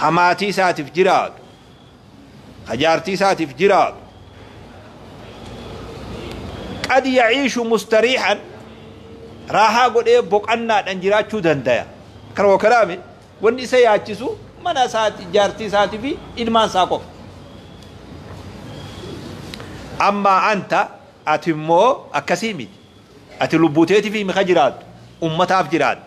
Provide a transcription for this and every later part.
ka maatii isaatiif jiraatu ka jaartii isaatiif jiraatu qad yaciishu mustariixan raahaa godhee boqannaadhaan jiraachuu dandaya akkana wakalaami wanni isa yaachisu mana isaati jaartii isaatii fi ilmaan isaa qofa ammaa anta ati immoo akkasii miti ati lubbuuteetiif himi ka jiraattu ummataaf jiraatta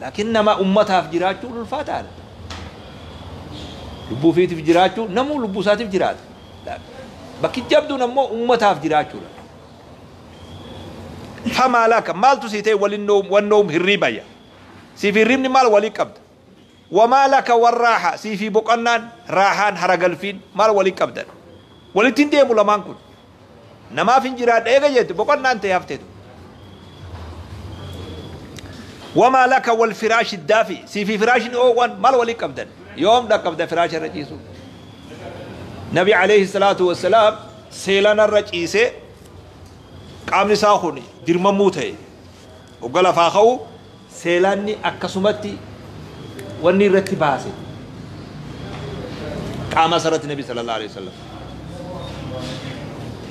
Laakiin nama ummataaf jiraachuun ulfaataadha. Lubbuu ofiitiif jiraachuu namuu lubbuu isaatiif jiraata. Laakiin bakki jabduun ammoo ummataaf jiraachuudha. Famaa laka maaltu sii ta'e walinnoom wannoom hirriibaya. Siif hirriibni maal walii qabda? Wamaa laka warraaha siifii boqannaan raahaan haragalfiin maal walii qabdan? Walitti hin deemu lamaan kun. Namaafin jiraadha eega jette boqonnaan tee haftee tun. Wamaa laka wal firaashi daafi siifi firaashni oowwan mal wali qabdan yoom dhaqqabda firaasha irra ciisu. Nabi alayhi salaatu wassalaam seelana irra ciisee qaamni isaa kun dirmammuu ta'e Ogga lafaa ka'u seelaanni akkasumatti wanni irratti baase qaama isarratti nabi sallallahu alaihi wasallam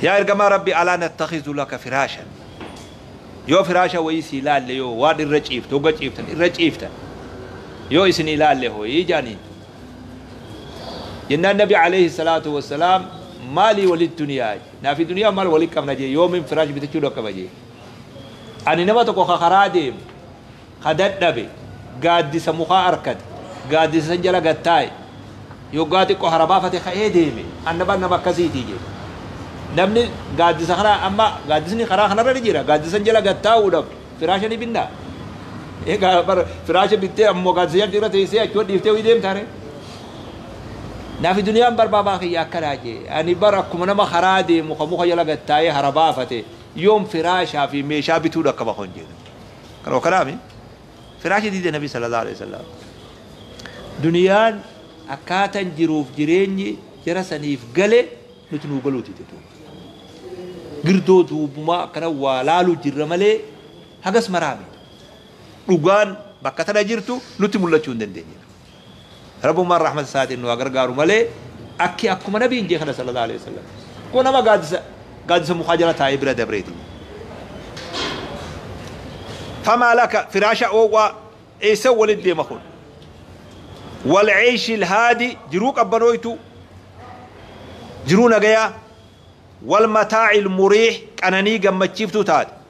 yaa ergamaa rabbi alaa nattakhizu laka firaashan yoo firaasha wayii si ilaalle yoo waan irra ciiftu ogga ciiftan irra ciiftan yoo isin ilaalle hoyii jaaniin jennaan nabi alayhi salaatu wassalaam maalii walit duniyaa naafi duniyaa maal walit qabna jee yoomin firaash bitachuu dhaqqaba jee Ani nama tokko ka karaa deemu, ka dadhabe, gaaddisa mukaa arkate, gaaddisa san jala gad taa'e, yoggaa xiqqoo hara baafate ka'ee deeme, anna bar nama akkasiitii jedhe. Namni gaaddisa kana amma gaaddisni karaa kanarra ni jira, gaaddisa san jala gad taa'uudhaaf firaasha ni binnaa? Egaa bar firaasha bittee ammoo gaaddisa jalatti irra teessee achuma dhiiftee ho'i deemtaare? Nafi duniyaan bar baabaa kiyya akkanaa jedhe. Ani bar akkuma nama karaa deemu ka muka jala gad taa'ee hara baafate, Yoom firaashaa fi meeshaa bituu dhaqqaba kan jedhu. Kanuma kanaami firaasha diide nabii sallallahu aleyhi wasallam. Duniyaan akkaatan jiruuf jireenyi jara saniif gale nuti nuu galuu dide duuba. Girdoo duubumaa akkana waa laaluu jirra malee hagas maraami. Dhugaan bakka tana jirtu nutti mul'achuu hin dandeenye. Rabbumaan rahmata isaatiin nu haa gargaaru malee akki akkuma nabiin jee kana sallallahu aleyh wasallam kun nama gaaddisa gaaddisa mukaa jala taa'ee bira dabreeti famaa laka firaasha oowwaa eessa walit deema kun wal ceeshi ilhaadi jiruu qabbanooytu jiruu nagayaa wal mataaci ilmuriix qananii gammachiiftuu taate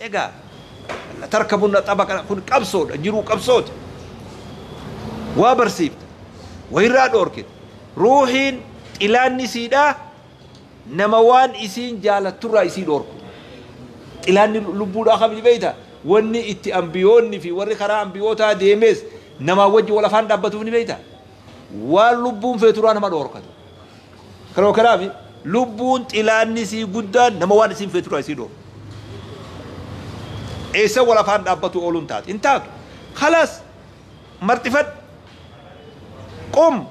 Egaa latarkabunna xabaqa kun qabsoodha jiruu qabsooti waa barsiifta wayirraa dhoorkita ruuhiin xilaanni siidha nama waan isiin jaalatturraa isii dhoorku xilaanni lubbuudhaa kabji beeyta wanni itti ambiyoonni fi warri karaa ambiyootaa deemees namaa wajji wal afaan dhaabbatuuf ni beeyta Waan lubbuun feeturaa nama dhoorkatu. Kanuma kanaafi lubbuun xilaanni isii guddaan nama waan isiin feeturaa isii dhoorku. Eessa wal afaan dhaabbatu ooluun taatu? Hin taatu. Khalas! Marxifadhu! Qum!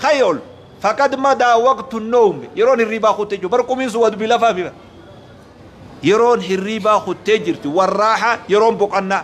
Ka'i ol! Faqad madaa waqtu nowmi. Yeroon hirriibaa kuttee jiru. Bar qumiin sun waa dubbii lafaa mira. Yeroon hirriibaa kuttee jirti. Warraaxa yeroon boqannaa.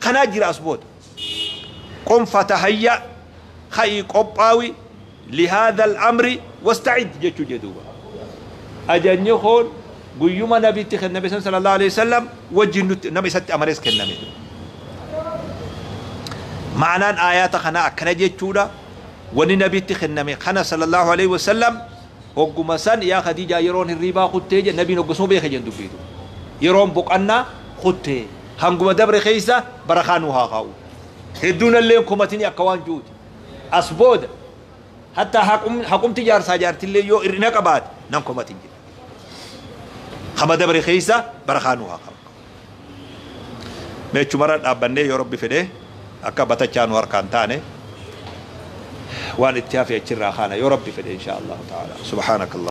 kanaa jira as booda. Qum fatahayya, ka'ii qophaawi, lihaadha al-amri wasta'id jechuu jee duuba. Ajajni kun guyyuma nabi itti kenname san sallallahu aleyhi wasallam wajjin nutti nama isatti amanes kenname. Ma'anaan aayaata kanaa akkana jechuudha, wanni nabitti kenname kana sallallahu aleyhi wasallam Hogguma san yaa Khadiijaa yeroon hirriibaa kuttee jedhe Nabiin hoggasuma beeke jedhan dubbii tun. Yeroon boqannaa kutte. Hanguma dabre keessa barakaa nuu haa kaa'u. Hedduu nalleen komatini akka waan ju'uti. As booda hattaa haqum haqumti jaarsaa jaartillee yoo ir'ina qabaate nan komatin jedhe. Kama dabre keessa barakaa nuu haa kaa'u. Mee achumarra dhaabbannee yoo Rabbi fedhe akka batachaa nu harkaa hin taane waan itti hafe achirraa kaana yoo Rabbi fedhe inshaa Allaahu ta'aalaa. Subhaanakallaa.